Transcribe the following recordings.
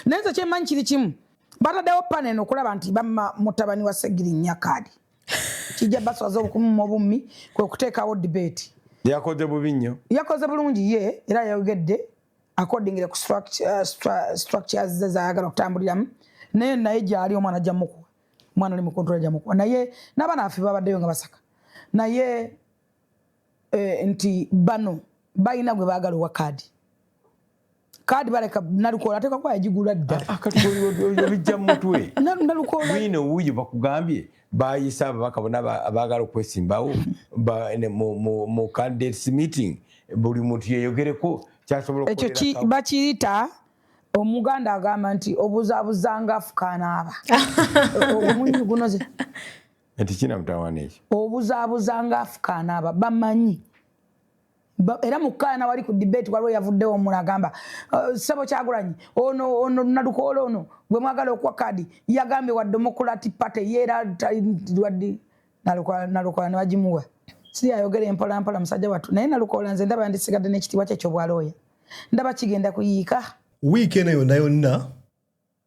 naye nze kyemanyi kiri kimu bataddewo panel okulaba nti bamma mutabani wa segirinya kaadi kijja baswaza obukumuma obummi kwe kuteekawo debate yakoze bubi nnyo yakoze bulungi ye era yayogedde accordingly ku uh, structures ze zayagala okutambuliramu naye naye gyali omwana ajja mukuwa omwana oli mukontola ajja mukuwa naye n'abaana baffe babaddeyo nga basaka naye eh, nti bano balina gwe baagala owa kaadi kaadi baleka nalukoola ateeka kuba yagigula dda ah, ah, bijja mumutwe nalukoola wuuyo bakugambye bayisa ababaka bona abaagala okwesimbawo mu candidates meeting buli muntu yeyogereko kyasobola ekyo bakiyita omuganda agamba nti obuzabuzanga afukaanaaba omunyugunoze Eti kina mutawana ekyo. Obuzabuza nga afukaana aba bamanyi. Ba, era mukaana wali ku debate waliwo yavuddewo omula agamba uh, sebo kyagulanyi ono ono nadukoola ono gwe mwagala okuwa kadi yagambye wa demokulati party ye era wadi nalukoola nebagimuwa si ayogera empolampola musajja wattu naye nalukoola nze ndaba yandisigadde n'ekitiibwa kye kyobwalooya ndaba kigenda kuyiika wiiki eno yonna yonna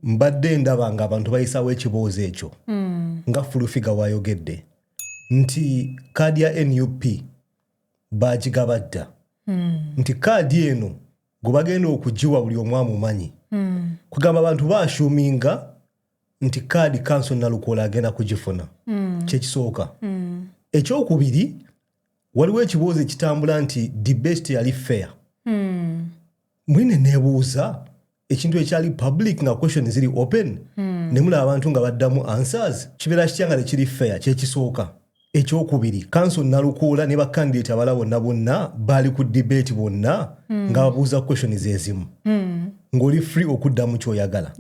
mbadde ndaba nga abantu bayisawo ekiboozi ekyo mm. nga fulufiga wayogedde nti kaadi ya nup bagigaba dda mm. nti kaadi eno gwe bagenda okugiwa buli omu amumanyi mm. kugamba abantu bashuminga nti kaadi kanso nalukola agenda kugifuna mm. kyekisooka mm. ekyokubiri waliwo ekiboozi ekitambula nti debate yali fair mm. mwene nebuuza ekintu ekyali public nga question ziri open hmm. nemulaba abantu nga baddamu answers kibeera kitya nga tekiri fair kyekisooka ekyokubiri kanso nalukuula ne bakandidate abala bonna bonna baali ku debate bonna hmm. nga babuuza question zezimu hmm. ng'oli free okuddamu kyoyagala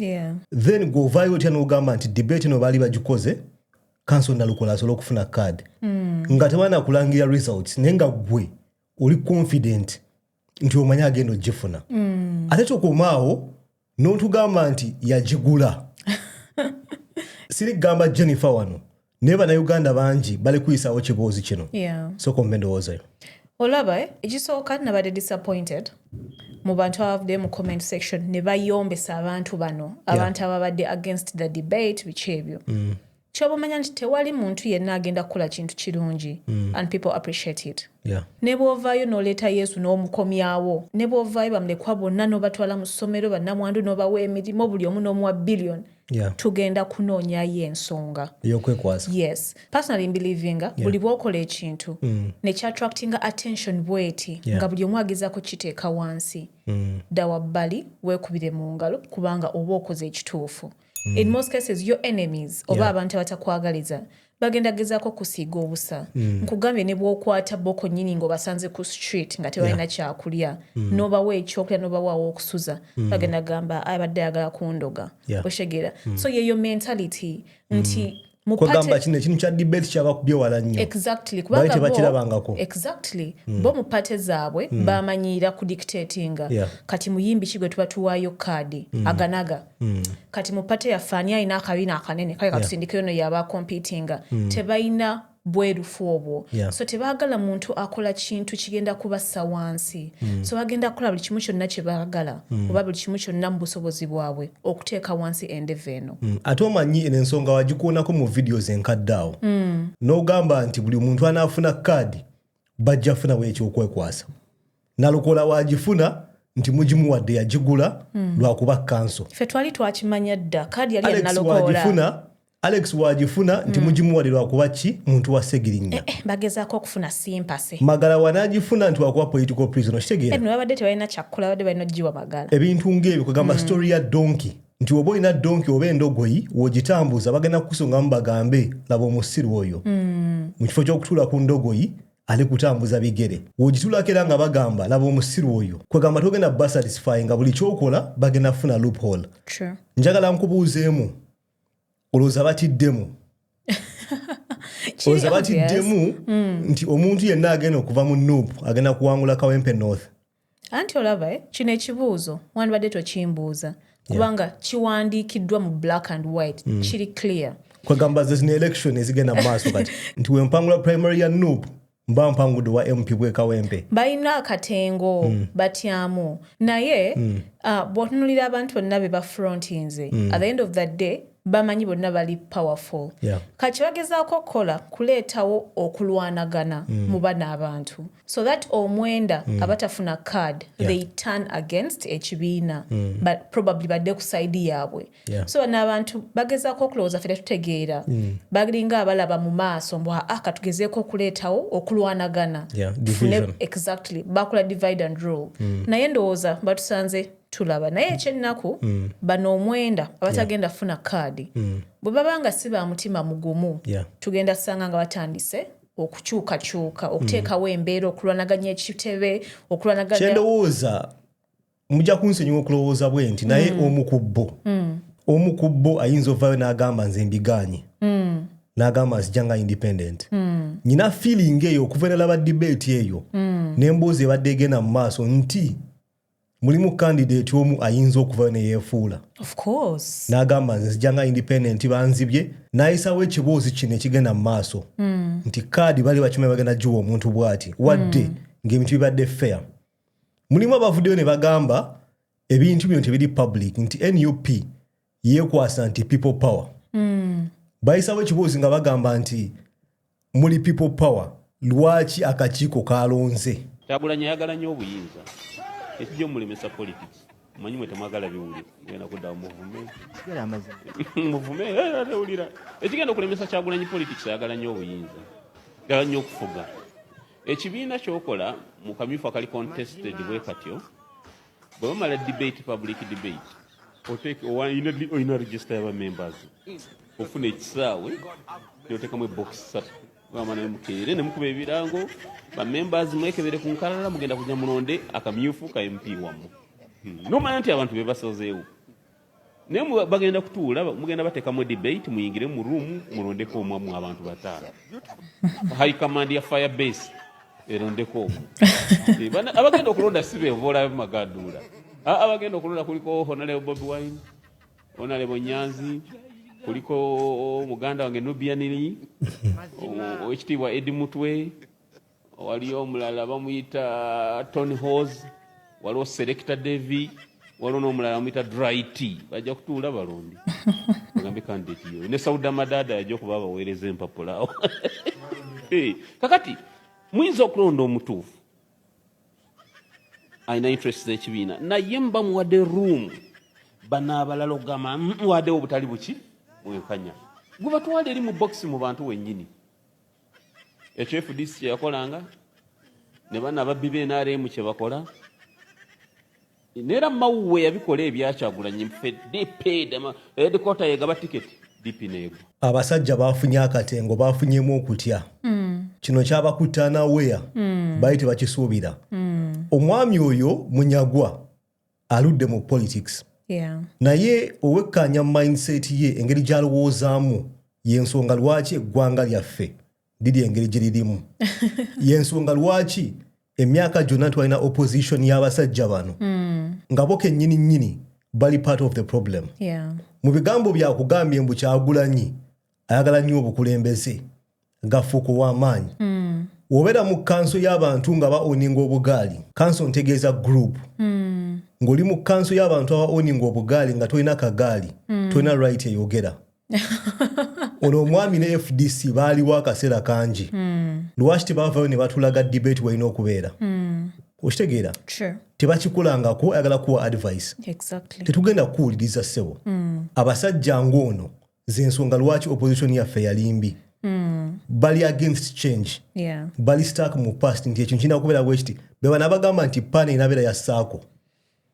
then gweovaayo otya nogamba nti debate no baali bagikoze kanso nalukola asobola okufuna card mm. nga tebanakulangirira results naye nga gwe oli confident nti omanya agenda ogifuna mm. ate tokomaawo notugamba nti yagigula siri kugamba jennifer wano naye banauganda bangi bali kuyisawo kiboozi kino yeah. soka omba endowoozayo olaba eh? ekisooka nabadde disappointed mu bantu abavuddeyo mu comment section ne bayombesa abantu bano abantu yeah. ababadde against the debate biki ebyo mm. kyoba omanya nti tewali muntu yenna agenda kukola kintu kirungi mm. and people appreciate it yeah. ne bwovaayo noleeta yesu n'omukomyawo ne bwovaayo bamulekwa bonna n'obatwala mu ssomero bannamwandu n'obawa emirimu buli omu n'omuwa billion yeah. tugenda kunoonyayo ensonga eyokwekwasa yes personally mbelivinga yeah. buli bwokola ekintu mm. nekyatractinga attention bweti yeah. nga buli omu ageza kukiteeka wansi mm. ddawa bbali weekubire mu ngalo kubanga oba okoze ekituufu mm. in most cases your enemies oba yeah. abantu abatakwagaliza bagenda gezako kusiiga obusa mm. nkugambye ne bwokwata boko nyini ngaobasanze ku street nga tebalina yeah. kyakulya mm. nobawa ekyokulya nobawawo okusuza mm. bagenda gamba abadde ayagala kundoga yeah. oshegera mm. so yeyo mentality nti mm. kwegamba kino ekintu kya debate kyabakubye wala nnyo exactly kubanga tebakirabangako exactly mm. bo mu pate zaabwe mm. bamanyiira ku dictatinga yeah. kati muyimbi kigwe tuba tuwaayo kaadi mm. aganaga mm. kati mu pate yaffe ani alina akabina akanene kale katusindikeyo yeah. noyo aba competinga mm. tebalina bwerufu obwo yeah. so tebagala muntu akola kintu kigenda kubassa wansi mm. so bagenda kukola buli kimu kyonna kyebaagala mm. oba buli kimu kyonna mu busobozi bwabwe okuteeka wansi endevu eno mm. ate omanyi eno ensonga wagikuonako mu videos enkadde awo mm. n'ogamba nti buli muntu anaafuna kaadi bajja funawo ekyokwekwasa nalokola wagifuna nti mugimuwadde yagigula mm. lwakuba kanso fe twali twakimanya dda kaadi yali yanalokoola alex wagifuna nti mm. mugimuwade lwakuba ki muntu wa segirinya eh, eh, bagezako okufuna simpase magala wanagifuna nti wakuba political prison okitegeerababadde eh, tebalina kyakkola badde balina okugiwa magala ebintu ngaebyo kugamba mm. story ya donki nti oba olina donki oba endogoyi wogitambuza bagenda kukusongamu bagambe laba omusiru oyo mm. mu kifo kyokutuula ku ndogoyi ali kutambuza bigere wogitulako era nga bagamba laba omusiru oyo kwegamba togenda basatisfy nga buli kyokola bagenda kufuna loophole njagala nkubuuzeemu olowooza batiddemu olowooza batiddemu hmm. nti omuntu yenna agenda okuva mu nup agenda kuwangula kawempe north anti olaba eh, kino ekibuuzo wandibadde tokimbuuza kubanga kiwandiikiddwa mu black and white hmm. kiri clear kwegamba zezina election ezigenda mu maaso kati nti wempangula primary ya nup mba mpangude wa mp bwekawempe balina akatengo mm. batyamu naye mm. uh, bwotunulira abantu bonna bebafrontinze mm. at the end of the day bamanyi bonna bali powerful yeah. kati bagezaako okukola kuleetawo okulwanagana mm. mu bana abantu so that omwenda mm. abatafuna card yeah. they turn against ekibiina mm. but probably badde ku saidi yaabwe Yeah. so bano abantu bagezaako okulowooza fe tetutegeera mm. balinga abalaba mu maaso mbu aa katugezeeko okuleetawo okulwanagana yeah, exactly bakola divide and rule mm. naye ndowooza batusanze tulaba naye ekyennaku mm. bano omwenda abatagenda yeah. funa kaadi mm. bwe baba nga si ba mutima mugumu yeah. tugenda sanga nga batandise okukyukakyuka okuteekawo mm. embeera okulwanaganya ekitebe okulwanaganya kyendowooza mujja kunsonyiwa okulowooza bwe nti naye mm. omu ku bo mm. omu ku bo ayinza ovaayo n'agamba nze mbigaanye mm. n'agamba nzija nga independent nyina feeling eyo okuva enalaba debate eyo n'emboozi ebadde egenda mu maaso nti mulimu kandidate omu ayinza okuvayo neyefuula n'agamba nze nzija nga independent banzibye nayisawo ekiboozi kino ekigenda mu maaso nti kaadi bali bakimanyi bagenda giwa omuntu bwati wadde ng'ebintu bibadde fair mulimu abavuddeyo ne bagamba ebintu bino tebiri public nti nup yekwasa nti people power mm. bayisawo ekiboozi nga bagamba nti muli people power lwaki akakiiko kalonze kyagulanyi ayagala nnyo obuyinza ekijo mulemesa politics manyi mwe temwagala biwulira genda kudda muvume muvume tewulira eh, eh, eh, ekigenda okulemesa kyagulanyi politics ayagala nnyo obuyinza gala nnyo okufuga ekibiina kyokola mu kamyufu akali contested bwe katyo bwe bamala debate public debate olina register yaba members ofuna ekisaawe notekamu ebokisi satu gamba naye mukeere ne mukuba ebirango ba members mwekebere ku nkalala mugenda kujja mulonde akamyufu ka MP wamu hmm. nomanya nti abantu be basazeewo naye bagenda kutuula mugenda batekamu debate muyingire mu room mulondeko omu mu abantu bataano high command ya fire base erondeko omu eh, abagenda okulonda si beevo olabe magaduula abagenda okulonda kuliko honaleo bobi wine Honorable Nyanzi kuliko muganda wange Nubian Lee owekitiibwa Edi Mutwe waliyo omulala bamuyita Tony Hose waliwo Selector Davy waliwo n'omulala bamuyita Dry Tea bajja kutuula balonde bagambe candidate yoyo ne Sauda Madada yajja okuba abaweereza empapula awo kakati muyinza okulonda omutuufu alina interest z'ekibiina naye mba muwadde room bano abalala ogamba muwadewo obutali buki bwenkanya gwe batwala eri mu box mu bantu wennyini ekyo fdc kyeyakolanga ne bana ababbi bnrm kyebakola Nera mawuwe yabikola ebyakyagulanyi mfe DP dema edikota eh, yegaba ticket DP nego. Abasajja bafunye akatengo bafunyemu okutya. Mm. Kino kyabakuta na wea. Mm. Bayi tebakisuubira. Mm. Omwami oyo munyagwa aludde mu politics. Yeah. Naye owekkaanya mindset ye engeri gyalowoozaamu y'ensonga lwaki eggwanga lyaffe liri engeri gye lirimu yensonga lwaki emyaka gyonna twalina opposition y'abasajja bano hmm. nga bo kennyini nnyini bali part of the problem mu bigambo byakugambye mbu kyagulanyi ayagala nnyo obukulembeze gafuuka ow'amaanyi hmm. wobeera mu kanso y'abantu nga baoninga obugaali kanso ntegeeza group hmm. ng'oli mu kanso y'abantu abaoninga obugaali nga tolina kagaali tolina right eyogera ono omwami ne fdc baaliwo akaseera kangi hmm. lwaki tebavayo ne batulaga debate walina okubeera hmm. okitegeera tebakikulangako ayagala kuwa advice tetugenda kukuwuliriza ssebo hmm. abasajja ng'ono zensonga lwaki opposition yaffe yalimbi Mm. bali against change yeah. bali stark mu past nti ekyo nkina kubeera bwekiti bebana bagamba nti pana enabeera ya saako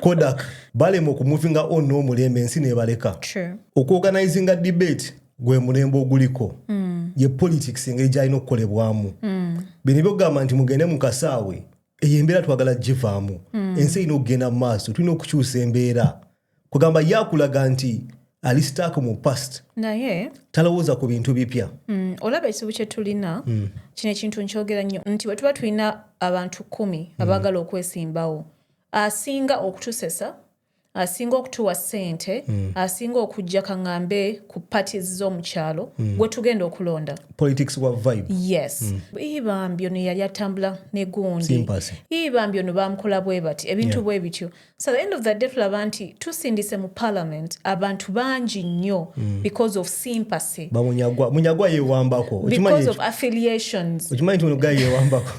kodak balema okumuvinga on n'omulembe ensi nebaleka okuorganizinga debate gwe mulembe oguliko mm. ye politics engeri gyalina okukolebwamu mm. bino byokugamba nti mugende mu kasaawe eyo embeera twagala givaamu mm. ensi erina okugenda mu maaso tulina okukyusa embeera kugamba ye akulaga nti ali stack mu past naye talowooza ku bintu bipya mm, olaba ekizibu kyetulina mm. kino ekintu nkyogera nnyo nti bwe tuba tulina abantu kumi mm. abaagala okwesimbawo asinga okutusesa asinga okutuwa sente mm. asinga okujja kaŋambe ku parties z'omukyalo mm. gwe tugenda okulonda politics wa vibe yes mm. ibambi ono yali atambula negundi ibambi ono bamukola bwe bati ebintu yeah. bwe bityo So the end of the day tulaba nti tusindise mu parliament abantu bangi nnyo mm. because of sympathy bamunyagwa munyagwa yewambako because of affiliations okimanyi nti ono gayi yewambako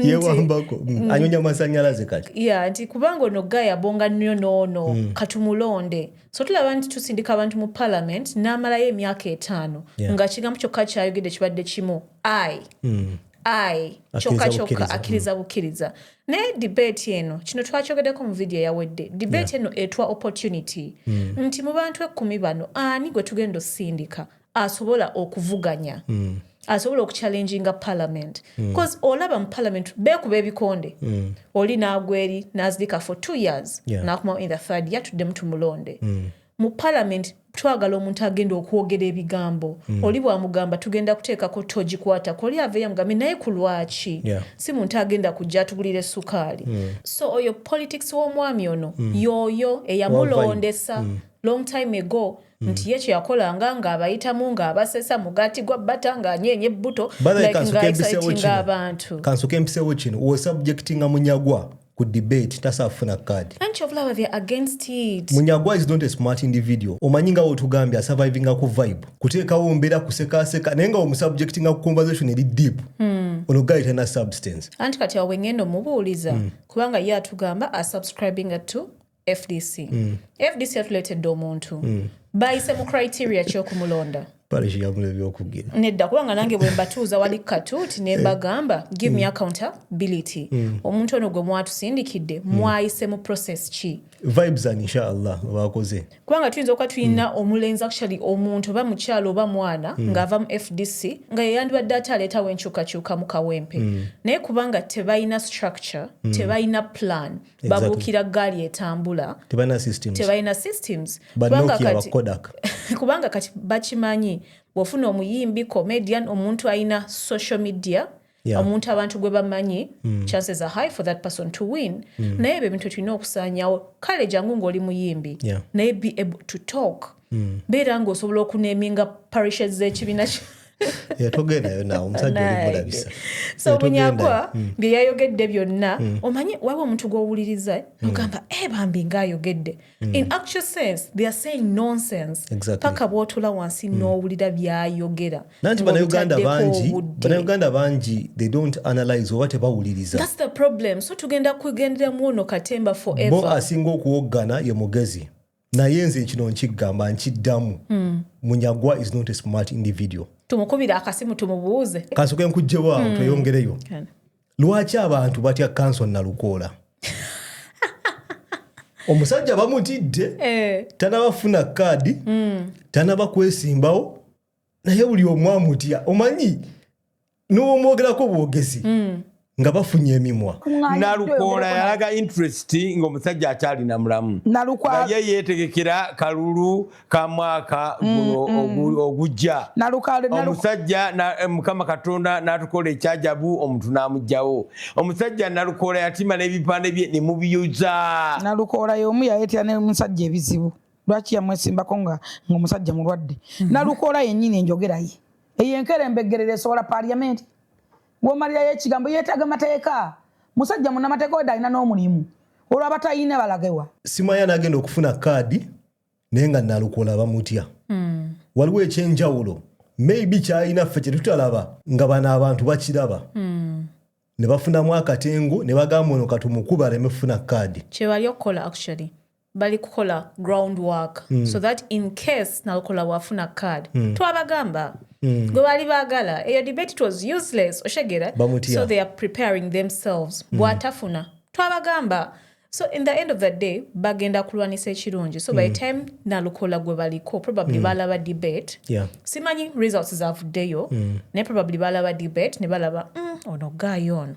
yewambako mm. mm. anyonya masanyalaze kati ya nti kubanga ono gayi abonga nnyo noono mm. katumulonde so tulaba nti tusindika abantu mu parliament n'amalayo emyaka etaano yeah. nga kigambo kyokka kyayogedde kibadde kimu i mm. ayi kyokka kyokka akkiriza bukkiriza naye debate eno kino twakyogedeko mu vidiyo eyawedde debate eno etwa opportunity mm. nti mu bantu ekkumi bano ani gwe tugenda osindika asobola okuvuganya mm. asobola okuchallenginga parliament mm. cause olaba mu parliament bekuba ebikonde mm. oli nagweri nazirika for two years yeah. nakumawo in the third year tuddemu tumulonde mm. Mu parliament twagala omuntu agenda okwogera ebigambo mm. oli bwamugamba tugenda kuteekako togikwatako oli aveeyo amugambe naye ku lwaki yeah. si muntu agenda kujja atugulira esukaali mm. so oyo politics w'omwami ono mm. yooyo eyamulondesa mm. long time ago mm. nti ye kyeyakolanga ng'abayitamu ng'abasesa mugati gwa bata ng'anyeenya ebbuto like ng'aexcitinga abantu kansoka empisewo kino wosubjectinga munyagwa ku debate tasaa kufuna card anti obulaba they're against it munyagwa is not a smart individual omanyi nga wotugambye asurvivinga ku vibe kuteekawo mbeera kusekaseka naye nga omusubjectinga ku conversation eri deep hmm. ono guy tana substance anti kati awo wengenda omubuuliza hmm. kubanga ye atugamba asubscribinga to fdc mm. fdc yatuleetedde omuntu mm. bayise mu criteria kyokumulonda nedda kubanga nange bwembatuuza wali katuuti nembagamba eh. give me mm. accountability mm. omuntu ono gwe mwatusindikidde mm. mwayise mu process ki kubanga tuyinza okuba tulina omulenzi actually omuntu oba mukyalo oba mwana ng'ava mu fdc nga yeyandibadde ate aleetawo enkyukakyuka mu kawempe naye kubanga tebalina structure tebalina plan babuukira ggaali etambula tebalina systems kubanga kati bakimanyi bwofuna omuyimbi comedian omuntu alina social media yeah. omuntu abantu gwe bamanyi mm. chances are high for that person to win mm. naye ebyo ebintu tulina okusaanyawo kale jangu ng'oli muyimbi yeah. naye be able to talk hmm. beera nga osobola okuneminga parishes z'ekibiina kyo yatogendayo nawe omusajja olimulabisa so munyagwa hmm. byeyayogedde byonna hmm. omanyi waba omuntu gwowuliriza hmm. nogamba e bambi ngaayogedde in actual sense they are saying nonsense paka bwotula wansi nowulira byayogera nanti banauganda bangi banauganda bangi they don't analyze oba tebawuliriza thats the problem so tugenda kugenderamu ono katemba forever bo asinga okuwoggana ye mugezi naye nze kino nkigamba nkiddamu hmm. munyagwa is not a smart individual tumukubira akasimu tumubuuze kansoke nkugjewo awo hmm. tweyongereyo lwaki abantu batya kanso nalukoola omusajja bamutidde eh. tanabafuna kaadi hmm. tanaba kwesimbawo naye buli omu amutya omanyi n'omwogerako obwogezi mm. nga bafunye emimwa nalukoola yalaga interest ngaomusajja akyalina mulamu naye yetegekera kalulu ka mwaka mm, guno mm. ogujja omusajja eh, mukama katonda natukola ekyajabu omuntu namugjawo omusajja nalukoola yatima n'ebipande bye nemubiyuza nalukoola yomu yayetera nemusajja ebizibu lwaki yamwesimbako nga ngaomusajja mulwadde mm-hmm. nalukoola yenyini enjogeraye eyo enkera embeggerera esobola paliamenti womalirayo ekigambo yetaaga mateeka musajja munamateeka weda alina n'omulimu olwo abatayina balagewa simanya anagenda okufuna kaadi naye nga nalukola bamutya hmm. waliwo ekyenjawulo maybe kyalina ffe kyetutalaba nga bano abantu bakiraba hmm. ne bafunamu akatengo ne bagamba ono katumukuba aleme kufuna kaadi kyewali okukola actually bali kukola ground work mm. so that in case nalukola wafuna card mm. twabagamba mm. gwe baali baagala eyo debate it was useless oshegera so they are preparing themselves mm. bwatafuna twabagamba so in the end of the day bagenda kulwanisa ekirungi so mm. by hmm. time nalukola gwe baliko probably mm. balaba debate yeah. simanyi results zavuddeyo mm. naye probably balaba debate ne balaba mm, ono gaayo ono